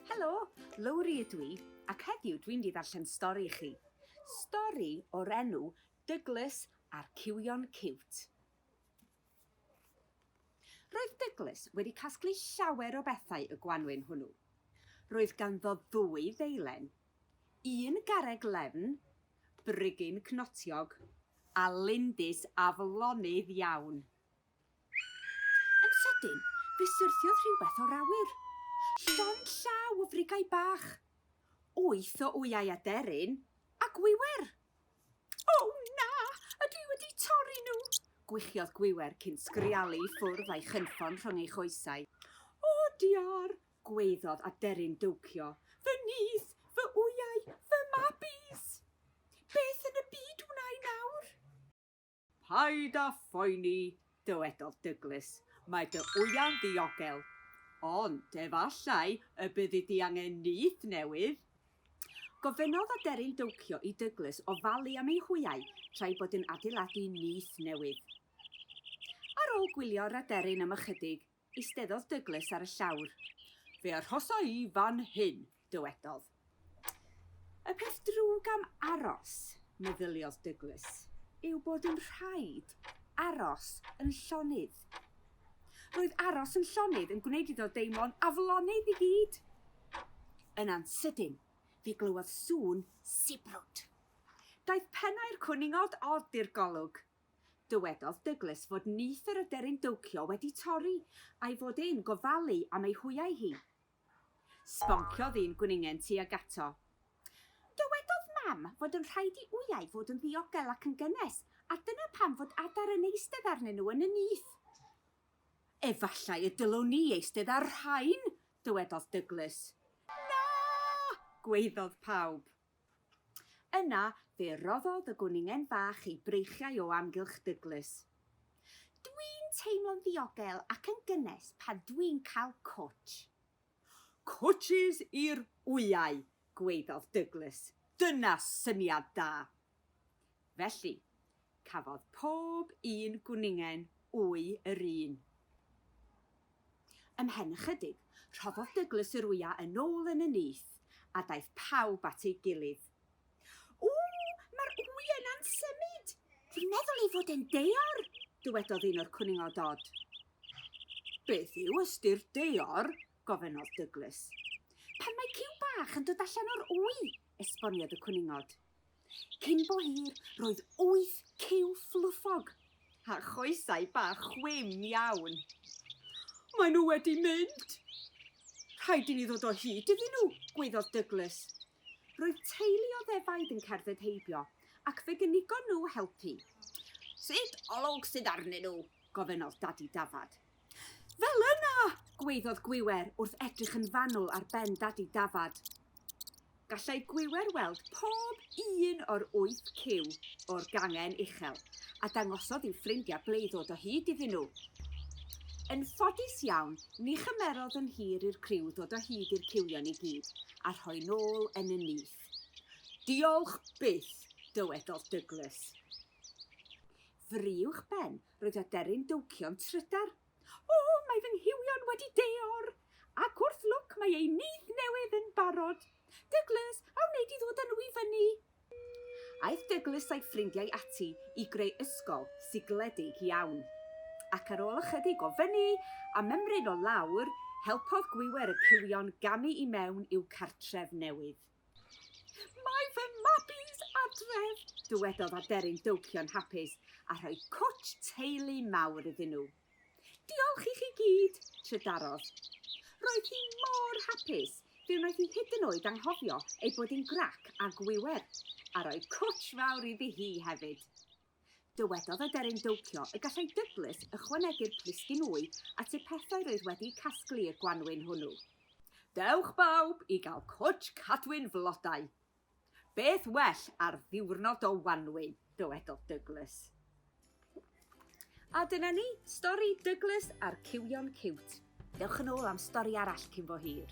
Helo, Lowri ydw i, ac heddiw dwi'n di ddarllen stori i chi. Stori o'r enw Douglas a'r Cywion Ciwt. Roedd Douglas wedi casglu llawer o bethau y gwanwyn hwnnw. Roedd ganddo ddwy ddeilen, Un garreg lefn, brigyn cnotiog, a lindys aflonydd iawn. Yn sydyn, fe syrthiodd rhywbeth o'r awyr. Llond llaw o frigau bach. Wyth o wyau aderyn a gwiwer. O na! A dwi wedi torri nhw! gwichiodd Gwiwer cyn sgrialu i ffwrdd a'i chynffon rhwng ei choesau. O diar! Gwaeddodd aderyn dowcio, Fy nyth, fy wyau, fy mabis! Beth yn y byd wna i nawr? Paid â phoeni, dywedodd Dyglis, mae dy wyau'n ddiogel. Ond efallai y byddi di angen nyth newydd. Gofynnodd aderyn dowcio i Dyglis ofalu am ei hwyau tra'i bod yn adeiladu nyth newydd. Ar ôl gwylio yr aderyn am ychydig, Eisteddodd Douglas ar y llawr. Fe arhosa i fan hyn, dywedodd. Y peth drwg am aros, meddyliodd Douglas, yw bod yn rhaid aros yn llonydd. Roedd aros yn llonydd yn gwneud iddo deimlo'n aflonydd i gyd. Yn ansydyn, fe glywodd sŵn sibrwd. Daeth pennau'r cwningod od i'r golwg, Dywedodd Douglas fod nyth yr aderyn dowcio wedi torri, a'i fod e'n gofalu am ei hwyau hi. Sbonciodd un gwningen tuag ato. Dywedodd Mam fod yn rhaid i wyau fod yn ddiogel ac yn gynnes, a dyna pam fod adar yn eistedd arnyn nhw yn y nyth. Efallai y dylwn ni eistedd ar rhain! dywedodd Douglas. Na! gwaeddodd pawb. Yna fe roddodd y gwningen fach ei breichiau o amgylch Douglas. Dwi'n teimlo'n ddiogel ac yn gynnes pan dwi'n cael cwtsh. Cwtshys i'r wyau, gwaeddodd Douglas. Dyna syniad da! Felly, cafodd pob un gwningen wy yr un. Ymhen ychydig, rhoddodd Douglas yr wyau yn ôl yn y nyth, a daeth pawb at ei gilydd. O! Mae'r wy yna'n symud! Dwi'n meddwl ei fod e'n deor! dywedodd un o'r cwningod dod. Beth yw ystyr deor? gofynnodd Douglas. Pan mae ciw bach yn dod allan o'r wy, esboniodd y cwningod. Cyn bo hir, roedd wyth cyw fluffog, a choesau bach chwim iawn. Maen nhw wedi mynd! Rhaid i ni ddod o hyd iddyn nhw, gwaeddodd Douglas. Roedd teulu o ddefaid yn cerdded heibio, ac fe gynigon nhw helpu. Sut olwg sydd arnyn nhw? gofynnodd Dadi Dafad. Fel yna! gwaeddodd Gwiwer wrth edrych yn fanwl ar ben Dadi Dafad. Gallai Gwiwer weld pob un o'r wyth cyw o'r gangen uchel, a dangosodd i'w ffrindiau ble i ddod o hyd iddyn nhw. Yn ffodus iawn, ni chymerodd yn hir i'r criw ddod o hyd i'r cywion i gyd, a rhoi nôl yn y nyth. Diolch byth! dywedodd Douglas. Fry uwchben, Roedd aderyn dowcio'n trydar. O, mae fy nghywion wedi deor! Ac wrth lwc mae eu nyth newydd yn barod. Douglas, a wnei di ddod â nhw i fyny? Aeth Douglas a'i ffrindiau ati i greu ysgol sigledig iawn. Ac ar ôl ychydig o fyny a mymryn o lawr, helpodd gwiwer y cywion gamu i mewn i'w cartref newydd. Mae fy mabis adref! dywedodd aderyn dowcio'n hapus a rhoi cwtsh teulu mawr iddyn nhw. Diolch i chi gyd! trydarodd. Roedd hi mor hapus, fe wnaeth hi hyd yn oed anghofio ei bod hi'n grac a gwiwer, a rhoi cwtsh fawr iddi hi hefyd. Dywedodd aderyn dowcio y gallai Douglas ychwanegu'r plisgyn wy at y pethau roedd wedi'u casglu i'r gwanwyn hwnnw. Dewch bawb i gael cwtsh cadwyn flodau! Beth well ar ddiwrnod o wanwyn, dywedodd Douglas. A dyna ni, stori Douglas a'r cywion ciwt. Dewch yn ôl am stori arall cyn bo hir.